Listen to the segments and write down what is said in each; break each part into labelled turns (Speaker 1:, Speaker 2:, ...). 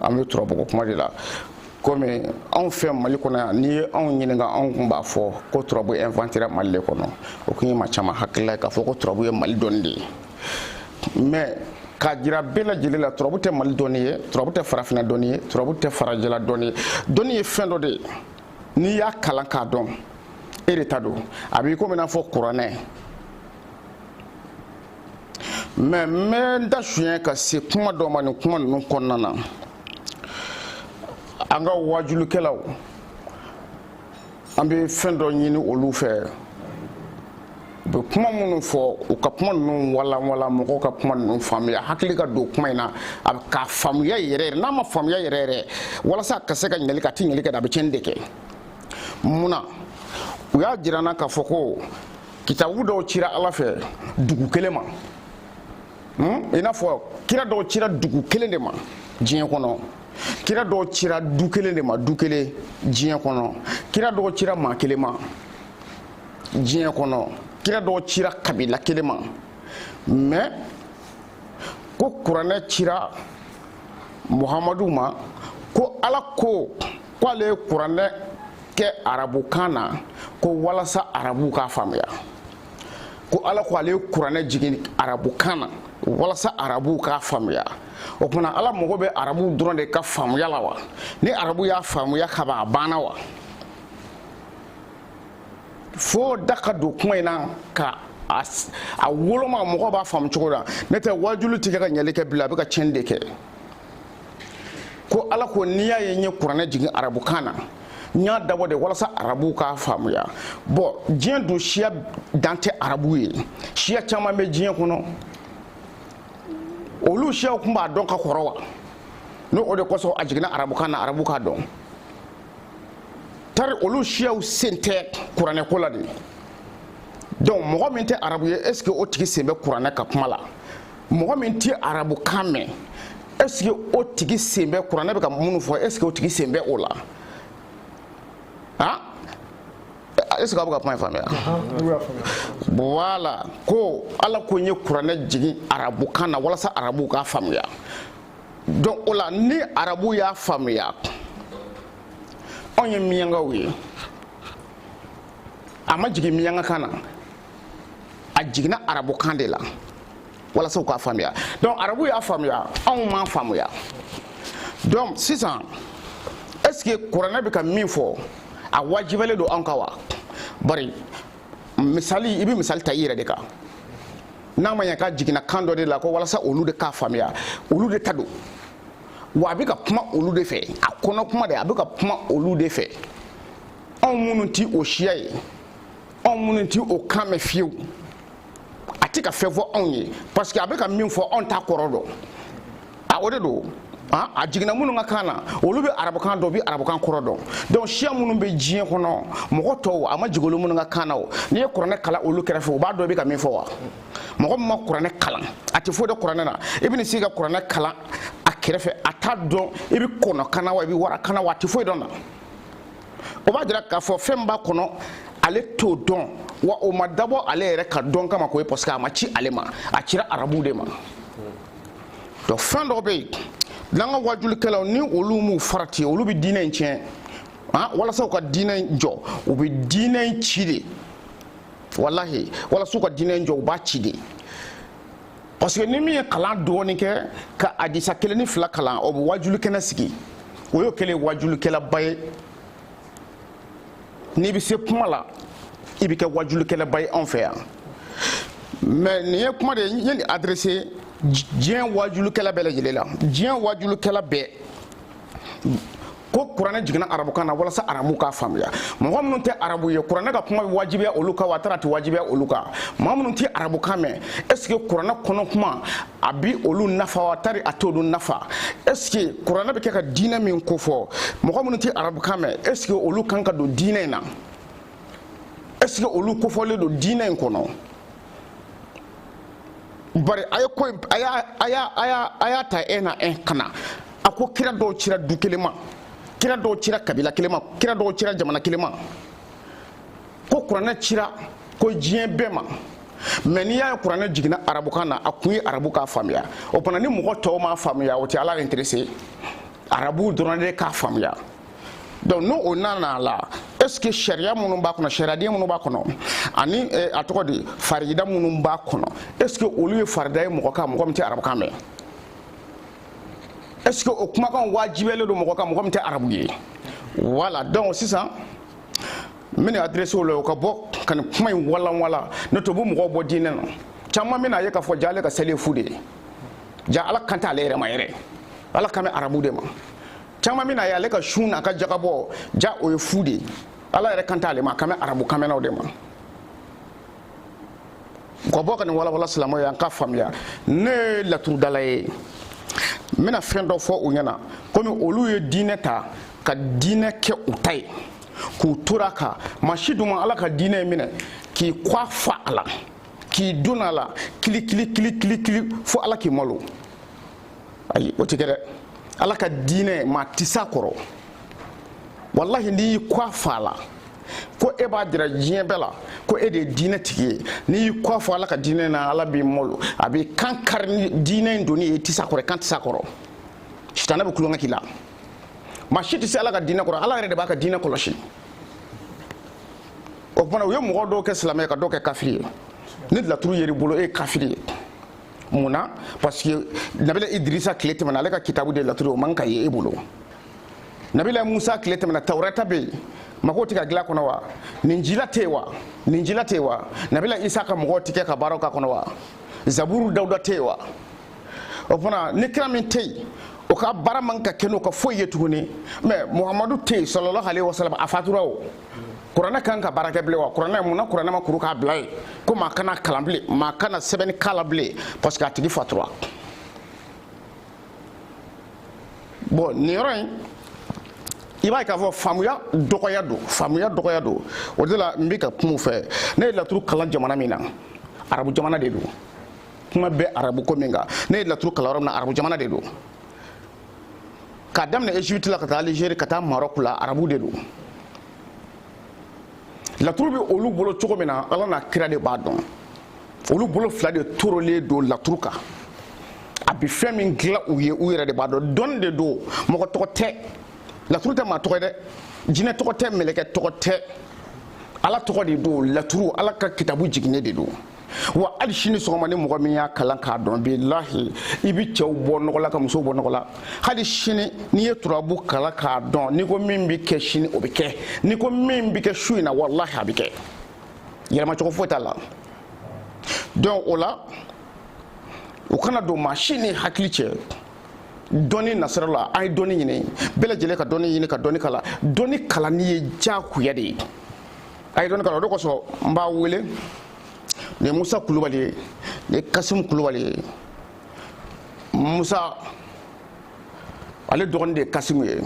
Speaker 1: an bɛ turabu ko kuma de la komi anw fɛ mali kɔnɔ yan n'i ye anw ɲininka anw kun b'a fɔ ko turabu inventera mali le kɔnɔ o kun ye maa caman hakilila ye k'a fɔ ko turabu ye mali dɔnni de ye mais k'a jira bɛɛ lajɛlen la turabu tɛ mali dɔnni ye turabu tɛ farafina dɔnni ye turabu tɛ farajɛla dɔnni ye dɔnni ye fɛn dɔ de ye n'i y'a kalan k'a dɔn e de ta don a b'i komi n'a fɔ kuranɛ mais n bɛ n da suɲɛ ka se kuma dɔ ma nin kuma ninnu kɔnɔna na an ka wajulikɛlaw an bɛ fɛn dɔ ɲini olu fɛ u bɛ kuma minnu fɔ u ka kuma ninnu walanwalan mɔgɔw ka kuma ninnu faamuya hakili ka don kuma in na a k'a faamuya yɛrɛ yɛrɛ n'a m'a faamuya yɛrɛ yɛrɛ walasa a ka se ka ɲɛli kɛ a tɛ ɲɛli kɛ a bɛ tiɲɛni de kɛ mun na u y'a jira n na k'a fɔ ko kitabu dɔw cira ala fɛ dugu kelen ma hmm? i n'a fɔ kira dɔw cira dugu kelen de ma diɲɛ kɔnɔ kira dɔw cira du kelen de ma du kelen diɲɛ kɔnɔ kira dɔw cira maa kelen ma diɲɛ kɔnɔ kira dɔw cira kabila kelen ma mais ko kuranɛ cira muhamadu ma ko ala ko k'ale ye kuranɛ kɛ arabukan na ko walasa arabuw k'a faamuya ko ala ko ale ye kuranɛ jigin arabukan na walasa arabuw k'a faamuya o tuma na ala mago bɛ arabuw dɔrɔn de ka faamuya la wa ni arabu y'a faamuya kaban a banna wa fo da ka don kuma in na ka a woloma mɔgɔ b'a faamu cogo la n'o tɛ wajuli tɛ kɛ ka ɲɛli kɛ bilen a bɛ ka tiɲɛni de kɛ ko ala ko n'i y'a ye n ye kuranɛ jigin arabukan na n y'a dabɔ de walasa arabuw k'a faamuya bon diɲɛ dun siya dan tɛ arabu ye siya caman bɛ diɲɛ kɔnɔ olu siyaw tun b'a dɔn ka kɔrɔ wa n'o o de kosɔn a jiginna arabukan na arabu k'a dɔn tari olu siyaw sen tɛ kuranɛ ko la de donc mɔgɔ min tɛ arabu ye est ce que o tigi sen bɛ kuranɛ ka kuma la mɔgɔ min tɛ arabukan mɛn est ce que o tigi sen bɛ kuranɛ bɛ ka minnu fɔ est ce que o tigi sen bɛ o la ah est ce que aw bɛ ka kuma in faamuya voilà ko ala ko n ye kuranɛ jigin arabukan na walasa arabuw k'a faamuya donc o la ni arabuw y'a faamuya anw ye miyankaw ye a ma jigin miyanka kan na a jiginna arabukan de la walasa u k'a faamuya donc arabu y'a faamuya anw m'a faamuya donc sisan est ce que kuranɛ bɛ ka min fɔ a wajibalen don anw kan wa bari misali i bɛ misali ta i yɛrɛ de kan n'a ma ɲɛ k'a jiginna kan dɔ de la ko walasa olu de k'a faamuya olu de ta don wa a bɛ ka kuma olu de fɛ a kɔnɔ kuma de a bɛ ka kuma olu de fɛ anw minnu ti o siya ye anw minnu ti o kan mɛn fiyewu a ti ka fɛn fɔ anw ye parce que a bɛ ka min fɔ anw t'a kɔrɔ dɔn a o de don Ah, a jiginna minnu ka kan na olu bɛ arabukan dɔn u bɛ arabukan kɔrɔ dɔn donc siya minnu bɛ diɲɛ kɔnɔ mɔgɔ tɔw a ma jigin olu minnu ka kan na o n'i ye kuranɛ kalan olu kɛrɛfɛ u b'a dɔn i bɛ ka min fɔ wa mɔgɔ min ma kuranɛ kalan a tɛ foyi dɔn kuranɛ na i bɛna se ka kuranɛ kalan a kɛrɛfɛ a t'a dɔn i bɛ kɔnɔ kan na wa i bɛ wara kan na wa a tɛ foyi dɔn na o b'a jira k'a fɔ fɛn b'a kɔnɔ ale t'o dɔn wa o ma dabɔ ale yɛrɛ ka dɔn kama ko ye parce que a ma ci ale ma a cira arabu de ma donc fɛn dɔ bɛ yen n'an ka wajulikɛlaw ni olu m'u farati olu bɛ diinɛ in tiɲɛ ah, walasa u ka diinɛ in jɔ u bɛ diinɛ in ci de walahi walasa u ka diinɛ in jɔ u b'a ci de parce que ni min ye kalan dɔɔni kɛ ka adisa kelen ni fila kalan o bɛ wajulu kɛnɛ sigi o y'o kɛlen wajulukɛlaba ye n'i bɛ se kuma la i bɛ kɛ wajulukɛlaba ye anw fɛ yan mais nin ye kuma de ye n ye nin adrese diɲɛ wajulukɛla bɛɛ lajɛlen la diɲɛ wajulukɛla bɛɛ ko kuranɛ jiginna arabukan na walasa arabu k'a faamuya mɔgɔ minnu tɛ arabu ye kuranɛ ka kuma bɛ wajibiya olu kan wa tari a tɛ wajibiya olu kan maa minnu tɛ arabukan mɛn est ce que kuranɛ kɔnɔ kuma a bi olu nafa wa tari a t'olu nafa est ce que kuranɛ bɛ kɛ ka diinɛ min ko fɔ mɔgɔ minnu tɛ arabukan mɛn est ce que olu kan ka don diinɛ in na est ce que olu kofɔlen don diinɛ in kɔnɔ bari a ye ko a y'a a y'a ta e na e kana a ko kira dɔw cira du kelen ma kira dɔw cira kabila kelen ma kira dɔw cira jamana kelen ma ko kuranɛ cira ko diɲɛ bɛɛ ma mais n'i y'a ye kuranɛ jiginna arabukan na a kun ye arabu k'a faamuya o fana ni mɔgɔ tɔw m'a faamuya o tɛ ala intéresser arabuw dɔrɔn de k'a faamuya donc n'o o nana la est ce que sariya minnu b'a kɔnɔ sariyaden minnu b'a kɔnɔ ani eh, a tɔgɔ di farida minnu b'a kɔnɔ est ce que olu ye farida ye mɔgɔ kan mɔgɔ min tɛ arabukan mɛn est ce que o kumakan wajibiyalen don mɔgɔ kan mɔgɔ min tɛ arabu ye voilà donc sisan n bɛna adresse la o ka bɔ ka nin kuma in walanwala n'o tɛ u bɛ mɔgɔw bɔ diinɛ na caman bɛna a ye k'a fɔ ja ale ka seli ye fu de ye ja ala kan tɛ ale yɛrɛ ma yɛrɛ ala kan bɛ arabu de ma caman bɛna ye ale ka sun n'a ka jagabɔ ja o ye fu de ye ala yɛrɛ kan t'ale ma a kan bɛ arabu kanmɛnnaw de ma ka bɔ ka nin walawala silamɛw ye an ka faamuya ne ye laturudala ye n bɛna fɛn dɔ fɔ u ɲɛna komi olu ye diinɛ ta ka diinɛ kɛ u ta ye k'u tora kan maa si dun ma ala ka diinɛ in minɛ k'i kɔ fa a la k'i don a la kili kili kili kili kili fo ala k'i malo ayi o tɛ kɛ dɛ ala ka diinɛ maa tɛ s'a kɔrɔ walahi n'i y'i kɔ fa a la ko e b'a jira diɲɛ bɛɛ la ko e de ye diinɛ tigi ye n'i y'i kɔ fa ala ka diinɛ na ala b'i malo a b'i kan kari ni diinɛ in donni ye i tɛ s'a kɔrɔ i kan tɛ s'a kɔrɔ sitanɛ bɛ tulonkɛ k'i la maa si tɛ se ala ka diinɛ kɔrɔ ala yɛrɛ de b'a ka diinɛ kɔlɔsi o tuma u ye mɔgɔ dɔw kɛ silamɛ ka dɔw kɛ kafiri ye ni laturu yer'i bolo e ye kafiri ye mun na parce que nabila idrisa tile tɛmɛna ale ka kitabu de laturu o man ka ye e bolo nabila musa tile tɛmɛna tawurata bɛ yen mago tɛ ka dilan kɔnɔ wa ninjila tɛ yen wa ninjila tɛ yen wa nabila isa ka mɔgɔw tɛ kɛ ka baaraw k'a kɔnɔ wa zaburu dawuda tɛ yen wa o fana ni kira min tɛ yen o ka baara man ka kɛ n'o ka foyi ye tuguni mais muhamadu tɛ yen salalahu alayihi wasalam a fatura o kuranɛ kan ka baara kɛ bilen wa kuranɛ mun na kuranɛ ma kuru k'a bila yen ko maa kan'a kalan bilen maa kana sɛbɛnni k'a la bilen parce que a tigi fatura bon nin yɔrɔ in i b'a ye k'a fɔ faamuya dɔgɔya don faamuya dɔgɔya don o de la n bɛ ka kuma u fɛ ne ye laturu kalan jamana min na arabu jamana de don kuma bɛ arabu ko min kan ne ye laturu kalan yɔrɔ min na arabu jamana de don k'a daminɛ egypte la ka taa algérie ka taa maroc la arabu de don laturu bɛ olu bolo cogo min na ala n'a kira de b'a dɔn olu bolo fila de torolen don laturu kan a bɛ fɛn min dilan u ye u yɛrɛ de b'a dɔn dɔnni de don mɔgɔ tɔgɔ tɛ laturu tɛ maa tɔgɔ ye dɛ jinɛ tɔgɔ tɛ mɛlɛkɛ tɔgɔ tɛ ala tɔgɔ de don laturu ala ka kitabu jiginnen de don wa hali sini sɔgɔma ni mɔgɔ min y'a kalan k'a dɔn bilahi i bi cɛw bɔ nɔgɔ la ka musow bɔ nɔgɔ la hali sini n'i ye turabu kalan k'a dɔn n'i ko min bi kɛ sini o bi kɛ n'i ko min bi kɛ su in na walahi a bi kɛ yɛlɛmacogo foyi t'a la donc o la u kana don maa si ni hakili cɛ dɔnni nasira la an ye dɔnni ɲini bɛɛ lajɛlen ka dɔnni ɲini ka dɔnni kalan dɔnni kalanni ye diyagoya de ye a ye dɔnni kalan o de kosɔn n b'a wele nin ye musa kulubali ye nin ye kasimu kulubali ye musa ale dɔgɔnin de ye kasimu ye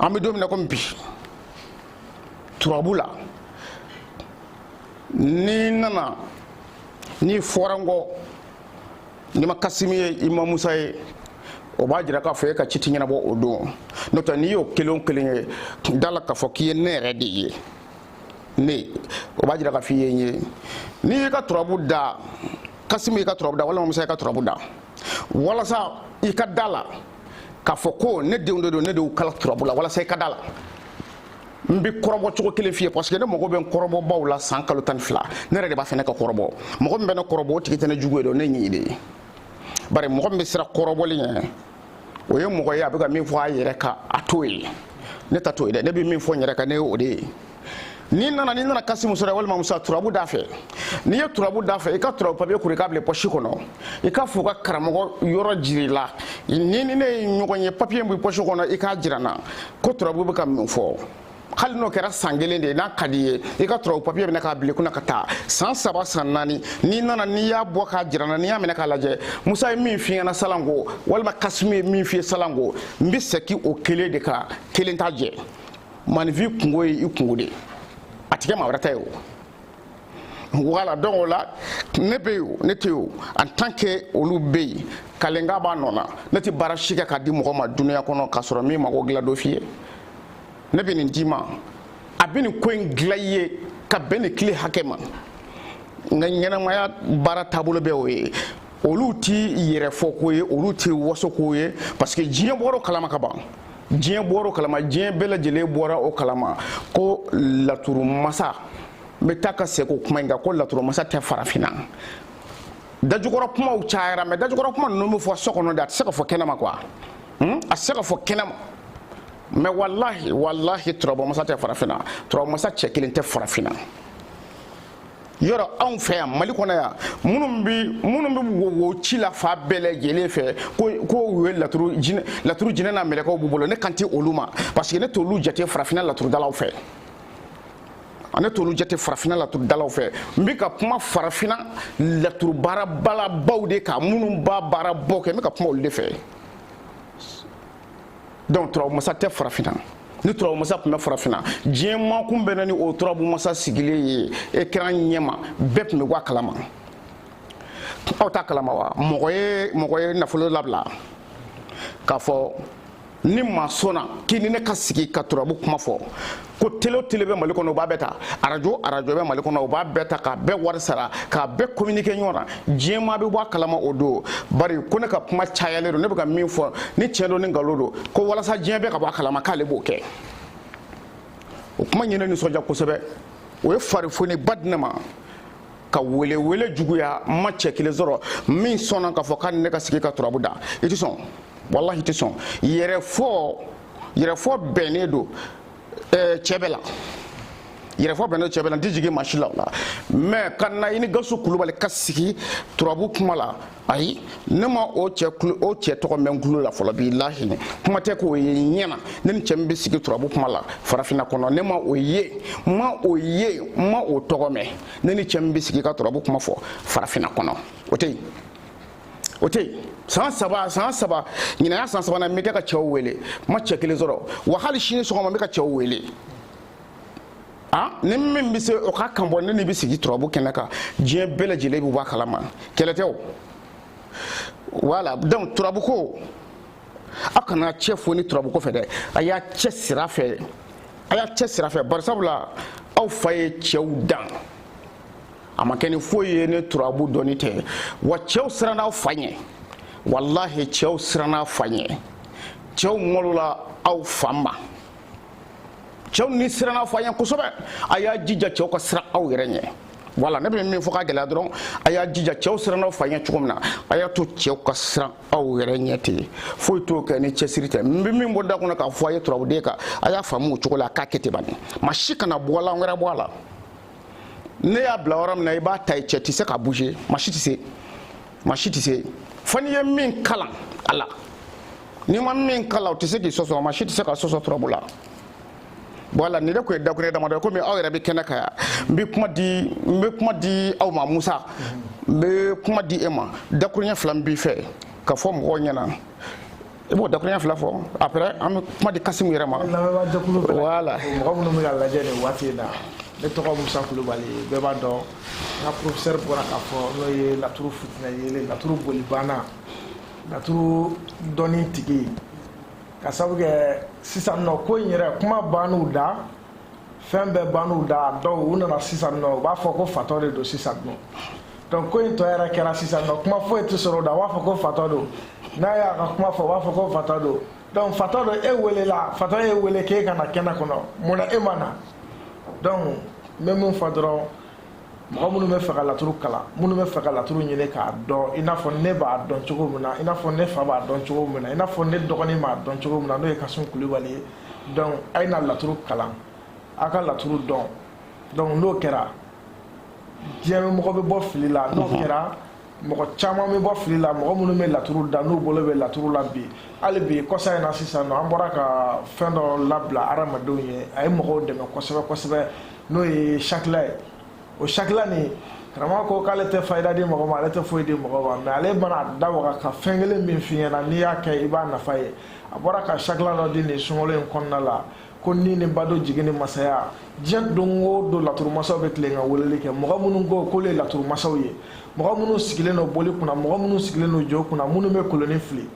Speaker 1: an bɛ don min na komi bi turabu la n'i nana n'i fɔra n kɔ n'i ma kasimi ye i ma musa ye o b'a jira k'a fɔ e ka ci ti ɲɛnabɔ o don n'o tɛ n'i y'o kelen o kelen ye da la k'a fɔ k'i ye ne yɛrɛ de ye ne o b'a jira k'a fɔ i ye n ye n'i y'i ka turabu da kasimi y'i ka turabu da walima musa y'i ka turabu da walasa i ka da la k'a fɔ ko ne denw de don ne de y'u kala turabu la walasa i ka da la n bɛ kɔrɔbɔ cogo kelen f'i ye parce que ne mago bɛ n kɔrɔbɔbaw la san kalo tan ni fila ne yɛrɛ de b'a fɛ ne ka kɔrɔbɔ mɔgɔ min bɛ ne kɔrɔbɔ o tigi tɛ ne jugu ye dɔn ne ɲi de ye bari mɔgɔ min bɛ siran kɔrɔbɔli ɲɛ o ye mɔgɔ ye a bɛ ka min fɔ a yɛrɛ kan a t'o ye ne ta t'o ye dɛ ne bɛ min fɔ n yɛrɛ kan ne ye o de ye n'i nana n'i nana kasimu sɔrɔ walima musa turabu da fɛ n'i ye turabu da fɛ i ka turabu papiye kuru i k'a bila pɔsi kɔnɔ i k'a fɔ ka karamɔgɔ yɔrɔ jir'i la n'i ni ne ye ɲɔgɔn ye papiye b'i pɔsi kɔnɔ i k'a jira n na ko turabu bɛ ka min fɔ hali n'o kɛra san kelen de ye n'a ka d'i ye i ka turabu papiye minɛ k'a bil'i kun na ka taa san saba san naani n'i nana n'i y'a bɔ k'a jira n na n'i y'a minɛ k'a lajɛ musa ye min f'i ɲɛ na salanko walima kasimu ye min f'i ye salanko n bɛ sɛki o kelen de kan kelen t'a jɛ maaninfin kunko ye i kunko de ye a tɛ kɛ maa wɛrɛ ta ye o voilà donc o la ne bɛ yen ne tɛ yen en tant que olu bɛ yen kalenka b'a nɔ na ne tɛ baara si kɛ k'a di mɔgɔ ma dunuya kɔnɔ k'a sɔrɔ n m'i mago dilan don f'i ye ne bɛ nin d'i ma a bɛ nin ko in dilan i ye ka bɛn nin tile hakɛ ma n ka ɲɛnamaya baara taabolo bɛ o ye olu ti yɛrɛfoko ye olu ti wasoko ye parce que diɲɛ bɔra o kalama ka ban diɲɛ bɔra o kalama diɲɛ bɛɛ lajɛlen bɔra o kalama ko laturu masa n bɛ taa ka segin o kuma in kan ko laturu masa tɛ farafinna dajukɔrɔ kumaw cayara mais dajukɔrɔ kuma ninnu bɛ fɔ so kɔnɔ de a tɛ se ka fɔ kɛnɛma quoi hmm? a tɛ se ka fɔ kɛnɛma mais walahi walahi turabu masa tɛ farafinna turabu masa cɛ kelen tɛ farafinna yɔrɔ anw fɛ yan mali kɔnɔ yan minnu bi minnu bɛ wo ci la fan bɛɛ lajɛlen fɛ ko ko u ye laturu jinɛ laturu jinɛ n'a mɛlɛkɛw b'u bolo ne kan tɛ olu ma parce que ne t'olu jate farafinna laturudalaw fɛ ne t'olu jate farafinna laturudalaw fɛ n bɛ ka kuma farafinna laturubaarabalabaw de kan minnu b'a baarabaw kɛ n bɛ ka kuma olu de fɛ. donc turabu masa tɛ farafinna ni turabu masa tun bɛ farafinna diɲɛ maa tun bɛ na ni o turabu masa sigilen ye ekran ɲɛma bɛɛ tun bɛ bɔ a kalama aw t'a kalama wa mɔgɔ ye mɔgɔ ye nafolo labila k'a fɔ ni maa sɔnna k'i ni ne ka sigi ka turabu kuma fɔ ko tele o tele bɛ mali kɔnɔ u b'a bɛɛ ta arajo o arajo bɛ mali kɔnɔ u b'a bɛɛ ta k'a bɛɛ wari sara k'a bɛɛ communiqué ɲɔgɔn na diɲɛmaa bɛ bɔ a kalama o don bari ko ne ka kuma cayalen don ne bɛ ka min fɔ ni tiɲɛ don ni nkalon don ko walasa diɲɛ bɛɛ ka bɔ a kalama k'ale b'o kɛ o kuma ye ne nisɔndiya kosɛbɛ o ye farifoni ba di ne ma ka welewele juguya n ma cɛ kelen sɔrɔ min sɔnna k'a fɔ k'a ni ne ka sigi ka turabu da i tɛ sɔn walahi i tɛ sɔn yɛrɛfɔ yɛrɛfɔ bɛnnen don eh, cɛ bɛɛ la yɛrɛfɔ bɛnnen don cɛ bɛɛ la n tɛ jigin maa si la o la mais ka na i ni gawusu kulubali ka sigi turabu kuma la ayi ne ma o cɛ kulo o cɛ tɔgɔ mɛn n kulo la fɔlɔ bilahi kuma tɛ k'o ye ɲɛ na ne ni cɛ min bɛ sigi turabu kuma la farafinna kɔnɔ ne ma o ye n ma o ye n ma o tɔgɔ mɛn ne ni cɛ min bɛ sigi ka turabu kuma fɔ farafinna kɔnɔ o tɛ yen o tɛ yen san saba san saba ɲinan y'a san sabanan n bɛ kɛ ka cɛw wele n ma cɛ kelen sɔrɔ wa hali sini sɔgɔma n bɛ ka cɛw wele a ni min bɛ se o k'a kan bɔ ne n'i bɛ sigi turabu kɛnɛ kan diɲɛ bɛɛ lajɛlen bɛ bɔ a kalama kɛlɛ tɛ o voilà donc turabu ko aw kana cɛ foni turabu ko fɛ dɛ a y'a cɛsiri a fɛ a y'a cɛsiri a fɛ bari sabula aw fa ye cɛw dan. a ma kɛ ni foyi ye ni turabu dɔnni tɛ wa cɛw siranna aw fa ɲɛ walahi cɛw siranna aw fa ɲɛ cɛw ŋɔlola aw fa ma cɛw ni siranna aw fa ɲɛ kosɛbɛ a y'a jija cɛw ka siran aw yɛrɛ ɲɛ voilà ne bɛ min fɔ k'a gɛlɛya dɔrɔn a y'a jija cɛw siranna aw fa ɲɛ cogo min na a y'a to cɛw ka siran aw yɛrɛ ɲɛ ten foyi t'o kɛ ni cɛsiri tɛ n bɛ min bɔ da kɔnɔ k'a fɔ a ye turabuden kan a y'a faamu o cogo la a k'a kɛ ten bani maa si kana bɔlan wɛrɛ bɔ a la ne y'a bila yɔrɔ min na i b'a ta i cɛ tɛ se k'a bouger maa si tɛ se maa si tɛ se fo n'i ye min kalan a la n'i ma min kalan o tɛ se k'i sɔsɔ maa si tɛ se ka sɔsɔ turabu la voilà nin de tun ye dakuruɲɛ damadɔ ye komi aw yɛrɛ bɛ kɛnɛ kan yan n bɛ kuma di n bɛ kuma di aw ma musa n bɛ kuma di e ma dakuruɲɛ fila min b'i fɛ k'a fɔ mɔgɔw ɲɛna i b'o dakuruɲɛ fila fɔ après an bɛ kuma di kasimu yɛrɛ ma voilà mɔgɔ minnu bɛ
Speaker 2: k'a lajɛ nin waati in na ne tɔgɔ musa kulubali bɛɛ b'a dɔn n ka professeur bɔra k'a fɔ n'o ye laturu fitinɛ yelen laturu bolibanna laturu dɔnni tigi k'a sabu kɛ sisan nɔ ko in yɛrɛ kuma bann'u da fɛn bɛɛ bann'u da donc u nana sisan nɔ u b'a fɔ ko fatɔ de don sisan nɔ donc ko in tɔ yɛrɛ kɛra sisan nɔ kuma foyi tɛ sɔrɔ o da u b'a fɔ ko fatɔ don n'a y'a ka kuma fɔ u b'a fɔ ko fatɔ don donc fatɔ don e welela fatɔ y'e wele k'e ka na kɛnɛ kɔnɔ mun na e ma na donc n bɛ min fɔ dɔrɔn mɔgɔ minnu bɛ fɛ ka laturu kalan minnu bɛ fɛ ka laturu ɲini k'a dɔn i n'a fɔ ne b'a dɔn cogo min na i n'a fɔ ne fa b'a dɔn cogo min na i n'a fɔ ne dɔgɔnin b'a dɔn cogo min na n'o ye kasun kulubali ye donc a ye na laturu kalan a ka laturu dɔn donc n'o kɛra diɲɛ mɔgɔ bɛ bɔ fili la n'o kɛra mɔgɔ caman bɛ bɔ fili la mɔgɔ minnu bɛ laturu da n'u bolo bɛ laturu la bi hali bi kɔsa in na sisan nɔ an bɔra ka fɛn dɔ labila hadamadenw ye a ye mɔgɔw dɛmɛ kosɛbɛ kosɛbɛ n'o ye sakila ye o sakila nin karamɔgɔ ko k'ale tɛ fayida di mɔgɔ ma ale tɛ foyi di mɔgɔ ma mais ale mana da waga ka fɛn kelen min f'i ɲɛna n'i y'a kɛ i b'a nafa ye a bɔra ka sakila dɔ di nin sunkalo in kɔnɔna la ko ni ni bado jigin ni masaya diɲɛ don o don laturumasaw bɛ tilen ka weleli kɛ mɔgɔ minnu ko k'olu ye laturumasaw ye mɔgɔ minnu sigilen don boli kunna mɔgɔ minnu sigilen don jo kunna minnu bɛ koloni fili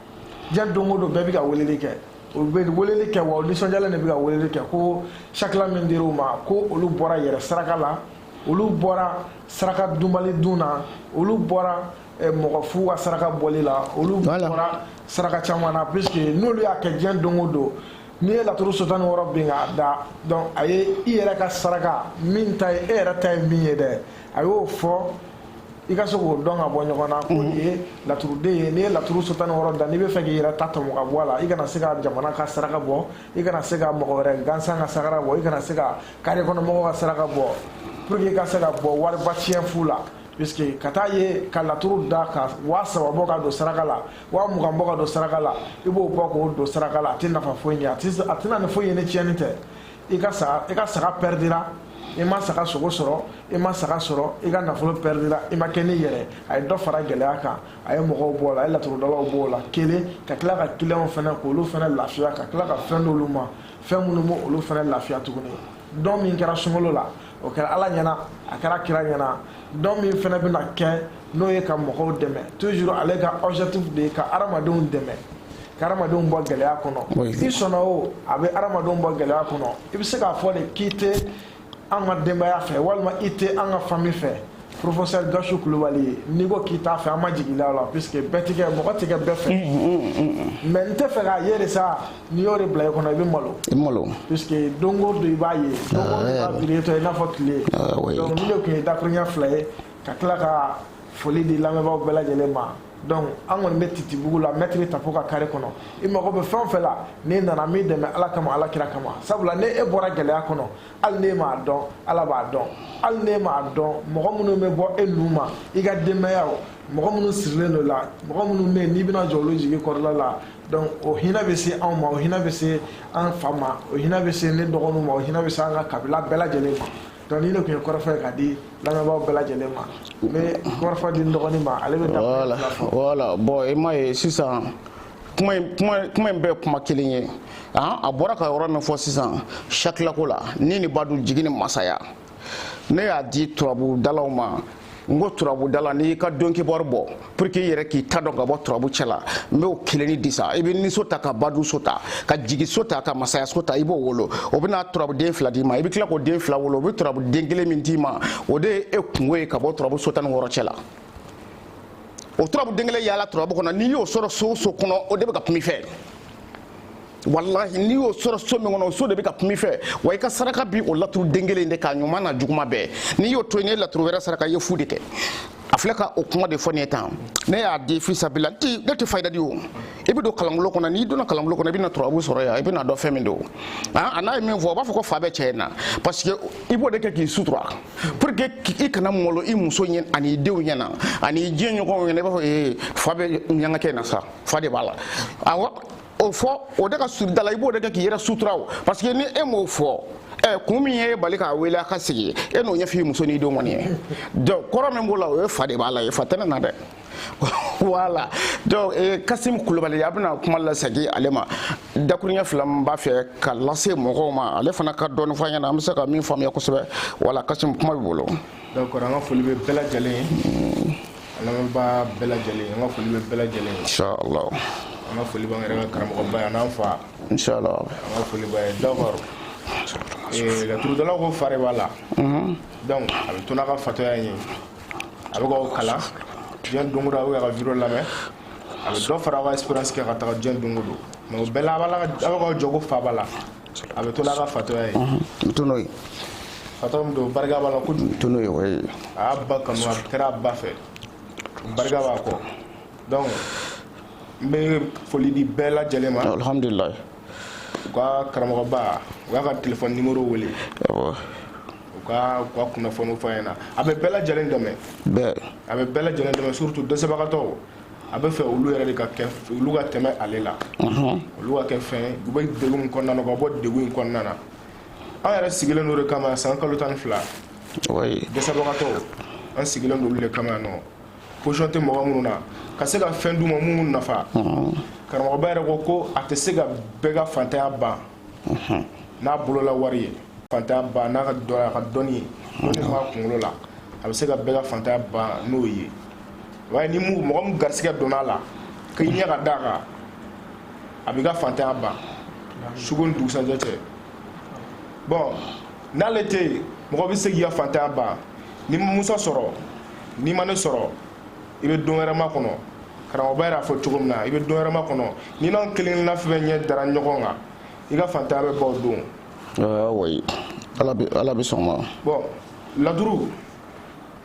Speaker 2: diɲɛ don o don bɛɛ bɛ ka weleli kɛ u bɛ weleli kɛ wa u nisɔndiyalen de bɛ ka weleli kɛ ko sakila min dir'u ma ko olu bɔra yɛrɛ saraka la olu bɔra saraka dunbali dun na olu bɔra eh, mɔgɔ fu ka saraka bɔli la olu bɔra saraka caman na puisque n'olu y'a kɛ diɲɛ don o don n'i ye laturu so tan ni wɔɔrɔ bin k'a da donc a ye i yɛrɛ ka saraka min ta ye e yɛrɛ ta ye min ye dɛ a y'o fɔ i ka se k'o dɔn ka bɔ ɲɔgɔn na ko nin ye laturuden ye n'i ye laturu so tan ni wɔɔrɔ da n'i bɛ fɛ k'i yɛrɛ ta tɔmɔ ka bɔ a la i kana se ka jamana ka saraka bɔ i kana se ka mɔgɔ wɛrɛ gansan ka saraka bɔ i kana se ka kare kɔnɔ mɔgɔw ka saraka bɔ pour que i ka se ka bɔ wariba tiɲɛ fu la puisque ka taa ye ka laturu da ka waa saba bɔ ka don saraka la waa mugan bɔ ka don saraka la i b'o bɔ k'o don saraka la a tɛ nafa foyi ɲɛ a tɛna ni foyi ye ni tiɲɛni tɛ i ka saga pɛridira i ma saga sogo sɔrɔ i ma saga sɔrɔ i ka nafolo pɛridira i ma kɛ n'i yɛrɛ a ye dɔ fara gɛlɛya kan a ye mɔgɔw b'o la a ye laturudalaw b'o la kelen ka tila ka kiliyanw fana k'olu fana lafiya ka tila ka fɛn d'olu ma fɛn minnu b'olu fana lafiya tuguni dɔn min kɛra sunkalo la o kɛra ala ɲɛna a kɛra kira ɲɛna dɔn min fana bɛna kɛ n'o ye ka mɔgɔw dɛmɛ toujours ale ka objectif de ye ka adamadenw dɛmɛ ka adamadenw bɔ gɛlɛya kɔnɔ i sɔnna o a bɛ adamadenw bɔ gɛlɛya kɔnɔ i bɛ se k'a fɔ de k'i tɛ an ka denbaya fɛ walima i tɛ an ka famille fɛ professeur Gachou Koulibaly n'i ko k'i t'a fɛ an ma jigin i la puisque bɛɛ ti kɛ mɔgɔ ti kɛ bɛɛ fɛ mais n tɛ fɛ k'a ye de sa n'i y'o de bila i kɔnɔ i bɛ malo puisque don o don i b'a ye don o don i b'a biri tɔ i n'a fɔ tile donc nin de tun ye dakurunya fila ye ka tila ka foli di lamɛnbaaw bɛɛ lajɛlen ma donc an kɔni bɛ titibugu la mɛtiri tapo ka kare kɔnɔ i mago bɛ fɛn o fɛn la n'i nana n b'i dɛmɛ ala kama ala kira kama sabula ni e bɔra gɛlɛya kɔnɔ hali n'e m'a dɔn ala b'a dɔn hali n'e m'a dɔn mɔgɔ minnu bɛ bɔ e nu ma i ka denbaya o mɔgɔ minnu sirilen don i la mɔgɔ minnu bɛ yen n'i bɛna jɔ olu jigi kɔrɔla la donc o hinɛ bɛ se anw ma o hinɛ bɛ se an fa ma o hinɛ bɛ se ne dɔgɔninw ma o hinɛ bɛ se an ka kabila bɛɛ lajɛlen ma donc ni ne tun ye kɔrɔfɔ ye ka di lamɛnbaaw bɛɛ lajɛlen ma n bɛ kɔrɔfɔ di n dɔgɔnin ma ale bɛ da voilà voilà bon
Speaker 1: i m'a ye sisan kuma in kuma kuma in bɛɛ ye kuma kelen ye a bɔra ka yɔrɔ min fɔ sisan sakilako la ni ni badu jigi ni masaya ne y'a di turabudalaw ma n ko turabudala n'i y'i ka donkibɔri bɔ pour que i yɛrɛ k'i ta dɔn ka bɔ turabu cɛ la n b'o kelenni di sa i bɛ niso ta ka badu so ta ka jigi so ta ka masaya so ta i b'o wolo o bɛna turabuden fila d'i ma i bɛ tila k'o den fila wolo o bɛ turabuden kelen min d'i ma o de ye e kunko ye ka bɔ turabu so tan ni wɔɔrɔ cɛ la o turabu den kelen yaala turabu kɔnɔ n'i y'o sɔrɔ so o so kɔnɔ o de bɛ ka kuma i fɛ walahi n'i y'o sɔrɔ so min kɔnɔ o so de bɛ ka kuma i fɛ wa i ka saraka b'o laturu den kelen de kan a ɲuman n'a juguman bɛɛ n'i y'o to yen n'i ye laturu wɛrɛ saraka i ye fu de kɛ a filɛ ka o kuma de fɔ ne ye tan ne y'a di fisabila n ti ne tɛ fayida di o i bɛ don kalanbolo kɔnɔ n'i donna kalanbolo kɔnɔ i bɛna turabu sɔrɔ yan i bɛna dɔn fɛn min don a n'a ye min fɔ a b'a fɔ ko fa bɛ cɛ in na parce que i b'o de kɛ k'i sutura pour que i kana malo i muso ɲɛ ani i denw ɲɛna ani i diɲɛ ɲɔgɔnw ɲɛna i b'a fɔ ee fa bɛ ɲɛngakɛ in na sa fa de b'a la awɔ o fɔ o de ka surun da la i b'o de kɛ k'i yɛrɛ sutura o parce que ni e m'o fɔ ɛ eh, kun min y'i bali k'a wele a ka sigi e n'o ɲɛf'i muso n'i denw kɔni ye donc kɔrɔ min b'o la o ye fa de b'a la fa tɛ ne na dɛ voilà donc eh, kasim kulubali a bɛna kuma lasegin ale ma dakuruɲɛ fila min b'a fɛ ka lase mɔgɔw ma ale fana ka dɔɔni fɔ an ɲɛna an bɛ se ka min faamuya kosɛbɛ voilà kasim kuma b'i bolo donc an ka foli
Speaker 2: bɛ bɛɛ lajɛlen ye Lamɛnbaa bɛɛ lajɛlen an ka foli bɛ bɛɛ lajɛlen ye.
Speaker 1: Inshallah. An ka foli
Speaker 2: b'an yɛrɛ ka karamɔgɔba ye a n'an fa. Inshallah. An ka
Speaker 1: foli b'a ye
Speaker 2: d'accord ee laturudalaw ko fa de b'a la. Unhun. Donc a bɛ to n'a ka fatɔya in ye. A bɛ k'aw kalan diɲɛ don o don aw bɛ k'a ka vidéo lamɛn. A bɛ dɔ fara aw ka expérience kan ka taga diɲɛ don o don mais o bɛɛ la a b'a la ka a bɛ k'aw jɔ ko fa b'a la. a bɛ to n'a ka fatɔya ye n bɛ to n'o
Speaker 1: ye fatɔ min
Speaker 2: don barika b'a la kojugu n bɛ to n'o ye o
Speaker 1: ye a y'a ba kanu a
Speaker 2: kɛra a ba fɛ barika b'a kɔ donc n bɛ foli di bɛɛ lajɛlen ma alhamdulilayi u ka karamɔgɔba u y'a
Speaker 1: ka
Speaker 2: téléphone numéro wele awɔ u ka u ka kunnafoniw fɔ a ɲɛna a bɛ bɛɛ lajɛlen dɛmɛ bɛɛ a bɛ bɛɛ lajɛlen dɛmɛ surtout dɛsɛbagatɔw a bɛ fɛ olu yɛrɛ de ka kɛ olu ka tɛmɛ ale la olu ka kɛ fɛn u bɛ degun min kɔnɔna na u ka bɔ degun in kɔnɔna na an yɛrɛ sigilen don o de kama san kalo tan ni fila dɛsɛbagatɔw an sigilen don olu de kama nɔ position tɛ mɔgɔ minnu na ka se ka fɛn d'u ma min b'u nafa karamɔgɔba yɛrɛ ko ko a tɛ se ka bɛɛ ka fantanya ban n'a bolola wari ye fantanya ban n'a ka dɔn a ka dɔnni ye o de b'a kunkolo la a bɛ se ka bɛɛ ka fantanya ban n'o ye waaye ni mu mɔgɔ min garisigɛ donna a la k'i ɲɛ ka d'a kan a b'i ka fantanya ban suko ni dugusajɛ cɛ bon n'ale tɛ yen mɔgɔ bɛ se k'i ka fantanya ban n'i ma musa sɔrɔ n'i ma ne sɔrɔ i bɛ don wɛrɛma kɔnɔ karamɔgɔba yɛrɛ y'a fɔ cogo min na i bɛ don wɛrɛma kɔnɔ n'i n'an kelenkelenna fɛn ɲɛ dara ɲɔgɔn kan i ka fantanya bɛ ban o don oui
Speaker 1: ala bɛ sɔn ma bon laturu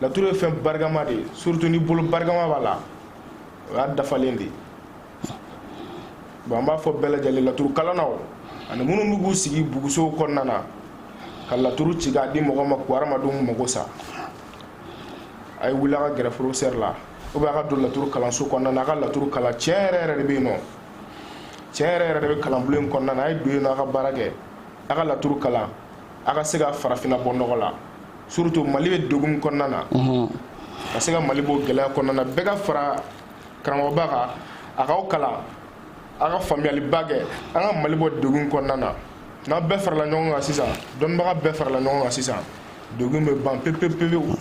Speaker 2: laturu ye fɛn barikama de ye surtout ni bolo barikama b'a la o y'a dafalen de ye bon an b'a fɔ bɛɛ lajɛlen laturu kalannaw ani minnu bɛ k'u sigi bugusow kɔnɔna na ka laturu ci k'a di mɔgɔ ma k'u hadamadenw mago sa a ye wuli a ka gɛrɛ professeur la ou bien a ka don laturu kalanso kɔnɔna na a ka laturu kalan tiɲɛ yɛrɛ yɛrɛ de bɛ yen nɔ tiɲɛ yɛrɛ yɛrɛ de bɛ kalanbulon in kɔnɔna na a ye don yen nɔ a ka baara kɛ a ka laturu kalan a ka se ka farafinna bɔ nɔgɔ la surtout mali bɛ degun min kɔnɔna na ka se ka mali bɔ gɛlɛya kɔnɔna na bɛɛ ka fara karamɔgɔba kan a k'aw kalan a ka faamuyaliba kɛ an ka mali bɔ degun kɔnɔna na n'aw bɛɛ farala ɲɔgɔn kan sisan dɔnnibaga bɛɛ farala ɲɔgɔn kan sisan degun bɛ ban pepepepewu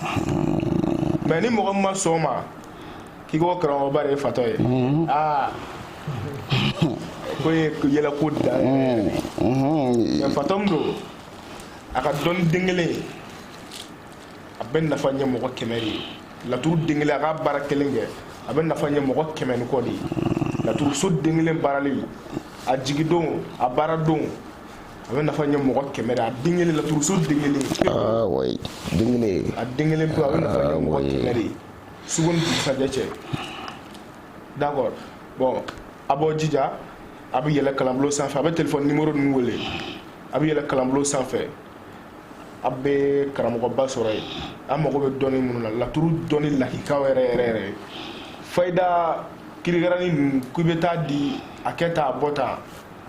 Speaker 2: mais ni mɔgɔ min ma sɔn o ma k'i ko karamɔgɔba de ye fatɔ ye aa ko ye yɛlɛko dan ye fatɔ min don a ka dɔnni den kelen a bɛ nafa ɲɛ mɔgɔ kɛmɛ de ye laturu den kelen a ka baara kelen kɛ a bɛ nafa ɲɛ mɔgɔ kɛmɛ ni kɔ de ye laturuso den kelen baaralen a jigidon a baara don a bɛ nafa ɲɛ mɔgɔ kɛmɛ de a den kelen laturuso den kelen aa
Speaker 1: oui den kelen a den kelen pe a bɛ nafa
Speaker 2: ɲɛ mɔgɔ kɛmɛ de suko ni dugusajɛ cɛ d'accord bon a b'aw jija a bɛ yɛlɛ kalanbulon sanfɛ a bɛ téléphone numéro ninnu wele a bɛ yɛlɛ kalanbulon sanfɛ a bɛ karamɔgɔba sɔrɔ yen an mago bɛ dɔnni minnu na laturu dɔnni lakikaw yɛrɛ yɛrɛ yɛrɛ fayida kirikaranin ninnu k'i bɛ taa di a kɛ tan a bɔ tan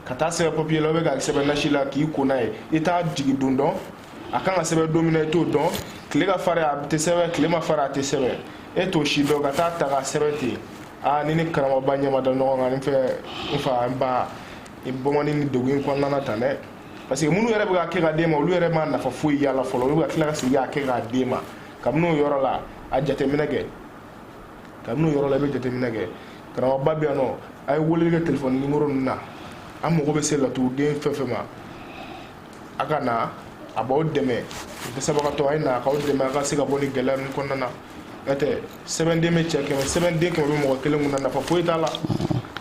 Speaker 2: ka taa sɛbɛn papier la ou bien ka sɛbɛn nasi la k'i ko n'a ye i t'a jigi don dɔn a kan ka sɛbɛn don min na i t'o dɔn tile ka farin a tɛ sɛbɛn tile man farin a tɛ sɛbɛn e t'o si dɔn ka taa ta ka sɛbɛn ten aa n'i ni karamɔgɔba ɲɛ ma da ɲɔgɔn kan n fɛ n fa n ba i bɔ man di nin degun in kɔnɔna na tan dɛ parce que minnu yɛrɛ bɛ k'a kɛ k'a d'e ma olu yɛrɛ ma nafa foyi y'a la fɔlɔ olu bɛ ka tila ka segin k'a kɛ k'a d'e ma kabini o yɔrɔ la a jateminɛ kɛ kabini o yɔrɔ la i bɛ jateminɛ kɛ karamɔgɔba bɛ yan nɔ a ye weleli kɛ telefɔni nimoro ninnu na an mago bɛ se laturuden fɛn fɛn ma a ka na a b'aw dɛmɛ dɛsɛbagatɔ a ye na a k'aw dɛmɛ a ka se ka bɔ ni gɛlɛya ninnu kɔnɔna na n'o tɛ sɛbɛnden bɛ cɛ kɛmɛ sɛbɛnden kɛmɛ bɛ mɔgɔ kelen kun na nafa foyi t'a la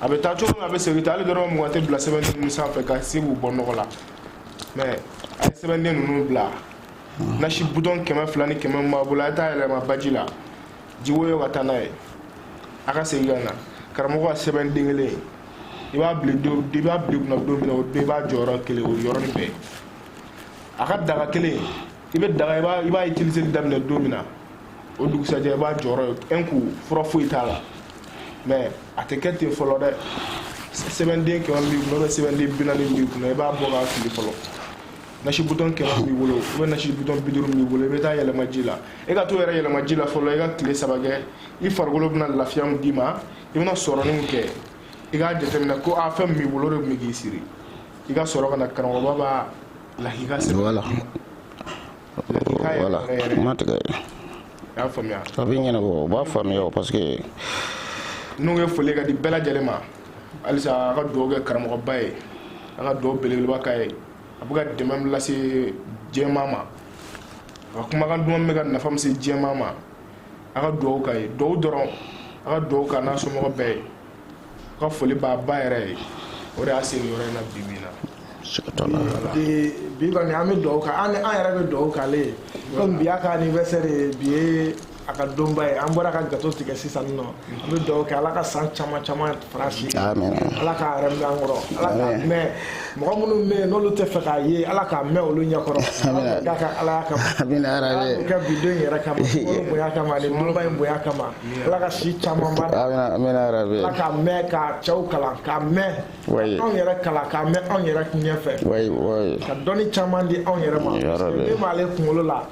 Speaker 2: a bɛ taa cogo min a bɛ segin tan hali dɔrɔmɛ mugan tɛ bila sɛbɛnden ninnu sanfɛ ka se k'u bɔ nɔgɔ la mɛ a ye sɛbɛnden ninnu bila nasi butɔn kɛmɛ fila ni kɛmɛ min b'a bolo a ye taa yɛlɛma baji la jiwoyo ka taa n'a ye a ka segin ka na karamɔgɔ ka sɛbɛnden kelen ye i b'a bila don i b'a bila kunna don min na o don i b'a jɔyɔrɔ kelen o yɔrɔnin bɛɛ a ka daga kelen i bɛ daga i b'a i b'a utiliser daminɛ don min na o dugusajɛ i b'a jɔyɔrɔ ye un coup fura foyi t'a la mais a tɛ kɛ ten fɔlɔ dɛ sɛbɛnden kɛmɛ b'i kunna sɛbɛnden bi naani b'i kunna i b'a bɔ k'a fili fɔlɔ nasi butɔn kɛmɛ b'i bolo ou bien nasi butɔn bi duuru b'i bolo i bɛ taa yɛlɛma ji la e ka to yɛrɛ yɛlɛma ji la fɔlɔ i ka tile saba kɛ i farikolo bɛna lafiya min d'i ma i bɛna sɔrɔnin min kɛ i k'a jateminɛ ko a fɛn min b'i bolo o de tun bɛ k'i siri i ka sɔrɔ ka na karamɔgɔba b'a lahika sɛbɛn
Speaker 1: voilà lahika yɛrɛ voilà yɛrɛ yɛrɛ kuma tigɛ i
Speaker 2: y'a faamuya a bɛ ɲɛnabɔ u
Speaker 1: b'a faamuya o parce que
Speaker 2: n'o ye foli ka di bɛɛ lajɛlen ma halisa a ka dugawu kɛ karamɔgɔba ye a ka dugawu belebeleba k'a ye a bɛ ka dɛmɛ min lase jɛma ma a ka kumakan duman bɛ ka nafa min se jɛma ma a ka dugawu k'a ye dugawu dɔrɔn a ka dugawu k'a n'a somɔgɔ bɛɛ ye a ka foli b'a ba yɛrɛ ye o de y'a se nin yɔrɔ in na bi bi in na bi kɔni an bɛ dugawu k'a an yɛrɛ bɛ dugawu k'ale ye komi bi y'a ka anniversaire ye bi ye a ka donba ye an bɔra ka gato tigɛ sisan nɔ an bɛ dugawu kɛ ala ka san caman caman far'a si ala k'a yɛrɛ mɛn an kɔrɔ ala k'a mɛn mɔgɔ minnu bɛ yen n'olu t'a fɛ k'a ye ala k'a mɛn olu ɲɛkɔrɔ k'a ka ala kama ala ka bi don yɛrɛ kama bonya kama ani donba in bonya kama ala ka si caman ba ala k'a mɛn k'a cɛw kalan k'a mɛn anw yɛrɛ kalan k'a mɛn anw yɛrɛ ɲɛfɛ ka dɔnni caman di anw yɛrɛ ma min b'ale kunkolo la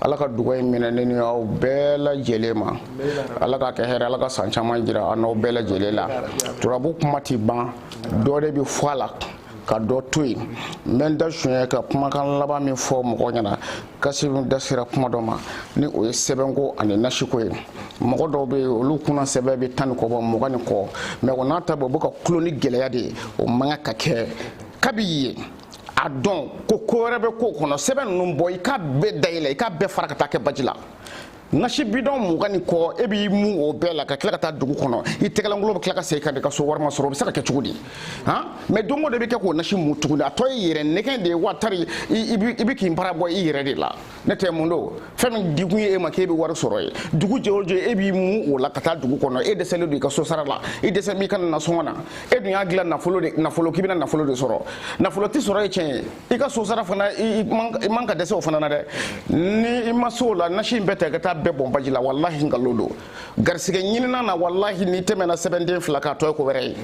Speaker 1: ala ka dugawu in minɛ ne ni aw bɛɛ lajɛlen ma ala ka kɛ hɛrɛ ala ka san caman jira an n'aw bɛɛ lajɛlen la turabu kuma ti ban dɔ de bɛ fɔ a la ka dɔ to yen n bɛ n da suɲɛ ka kumakan laban min fɔ mɔgɔ ɲɛna kasi da sera kuma dɔ ma ni o ye sɛbɛnko ani nasiko ye mɔgɔ dɔw bɛ yen olu kunna sɛbɛn bɛ tan ni kɔ bɔ mugan ni kɔ mɛ o n'a ta bɛɛ u bɛ ka tɔɔrɔ ni gɛlɛya de ye o man kan ka kɛ kabi ye a dɔn ko ko wɛrɛ bɛ ko kɔnɔ sɛbɛn ninnu bɔ i k'a bɛɛ dayɛlɛ i k'a bɛɛ fara ka taa kɛ baji la nasi bidɔn mugan ni kɔ e b'i mun o bɛɛ la ka tila ka taa dugu kɔnɔ i tɛgɛlankolon bɛ tila ka segin ka di ka so wari ma sɔrɔ o bɛ se ka kɛ cogo di han mɛ don o don i bɛ kɛ k'o nasi mun tuguni a tɔ ye yɛrɛ nɛgɛn de ye wa tari i bɛ k'i bara bɔ i yɛrɛ de la ne tɛ mun dɔn fɛn min dikun ye e ma k'e bɛ wari sɔrɔ ye dugu jɛ o jɛ e b'i mu o la ka taa dugu kɔnɔ e dɛsɛlen don i ka so sara la i dɛsɛ b'i ka nasɔngɔ na e dun y'a dilan nafolo de nafolo k'i bɛna nafolo de sɔrɔ nafolo tɛ sɔrɔ ye tiɲɛ ye i ka so sara fana i man ka dɛsɛ o fana na dɛ ni i ma se o la nasi in bɛɛ ta i ka taa bɛɛ bɔn baji la walahi nkalon don garisigɛ ɲinina na walahi n'i tɛmɛna sɛbɛnden fila kan a tɔ ye ko wɛrɛ ye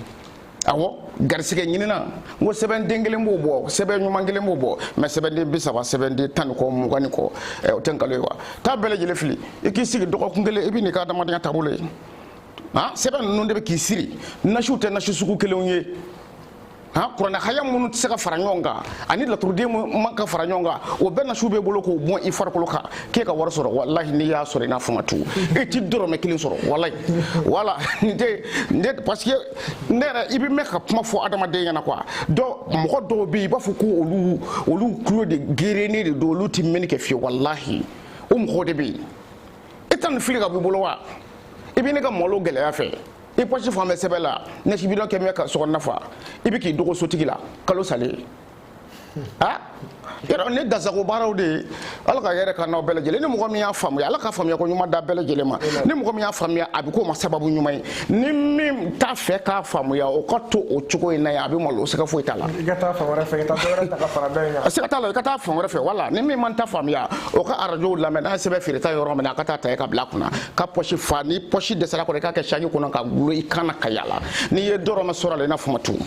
Speaker 1: awɔ garisɛgɛ ɲinina n ko sɛbɛnden kelen b'o bɔ sɛbɛn ɲuman kelen b'o bɔ mɛ sɛbɛnden bi saba sɛbɛnden tan ni kɔ mugan ni kɔ ɛ o tɛ nkalon ye wa taa bɛɛ lajɛlen fili i k'i sigi dɔgɔkun kelen i bɛ n'i ka adamadenya taabolo ye han sɛbɛn ninnu de bɛ k'i siri nasiw tɛ nasi sugu kelenw ye han kuranɛ haya minnu tɛ se ka fara ɲɔgɔn kan ani laturuden man ka fara ɲɔgɔn kan o bɛɛ nasiw b'e bolo k'o bɔn i farikolo kan k'e ka wari sɔrɔ walahi n'i y'a sɔrɔ i n'a fɔ ma tugu e ti dɔrɔmɛ kelen sɔrɔ walahi wala n tɛ n tɛ parce que ne yɛrɛ i bɛ mɛɛn ka kuma fɔ adamaden ɲɛna quoi dɔw mɔgɔ dɔw bɛ yen i b'a fɔ ko olu olu tulo de gerennen de don olu tɛ mɛnni kɛ fiyewu walahi o mɔgɔ de bɛ yen e tɛ nin fili ka b'i bolo wa i bɛ ne ka malo gɛlɛya fɛ i pɔsi falen bɛ sɛbɛn la nasi bidɔn kɛmɛ ka sokɔnɔna fa i bɛ k'i dogo sotigi la kalo salen yɔrɔ ne dasago baaraw de ye ala ka hɛrɛ kɛ n'aw bɛɛ lajɛlen ni mɔgɔ min y'a faamuya ala ka faamuya ko ɲuman d'a bɛɛ lajɛlen ma ni mɔgɔ min y'a faamuya a bɛ k'o ma sababu ɲuman ye ni min t'a fɛ k'a faamuya o ka to o cogo in na yen a bɛ malo o sɛgɛ foyi t'a la i ka taa fan wɛrɛ fɛ i
Speaker 2: ka taa dɔ wɛrɛ ta ka fara dɔ in kan sɛgɛ t'a la i ka taa fan
Speaker 1: wɛrɛ fɛ wala ni min ma n ta faamuya o ka arajow lamɛn n'a ye sɛbɛn feereta yɔrɔ min na a ka taa ta yen ka bila a kunna ka pɔsi fa ni pɔsi dɛsɛra a kɔrɔ i k'a kɛ saki kɔnɔ ka dulon i kan na ka yala n'i ye dɔrɔmɛ sɔrɔ a la i n'a fɔ ma tugun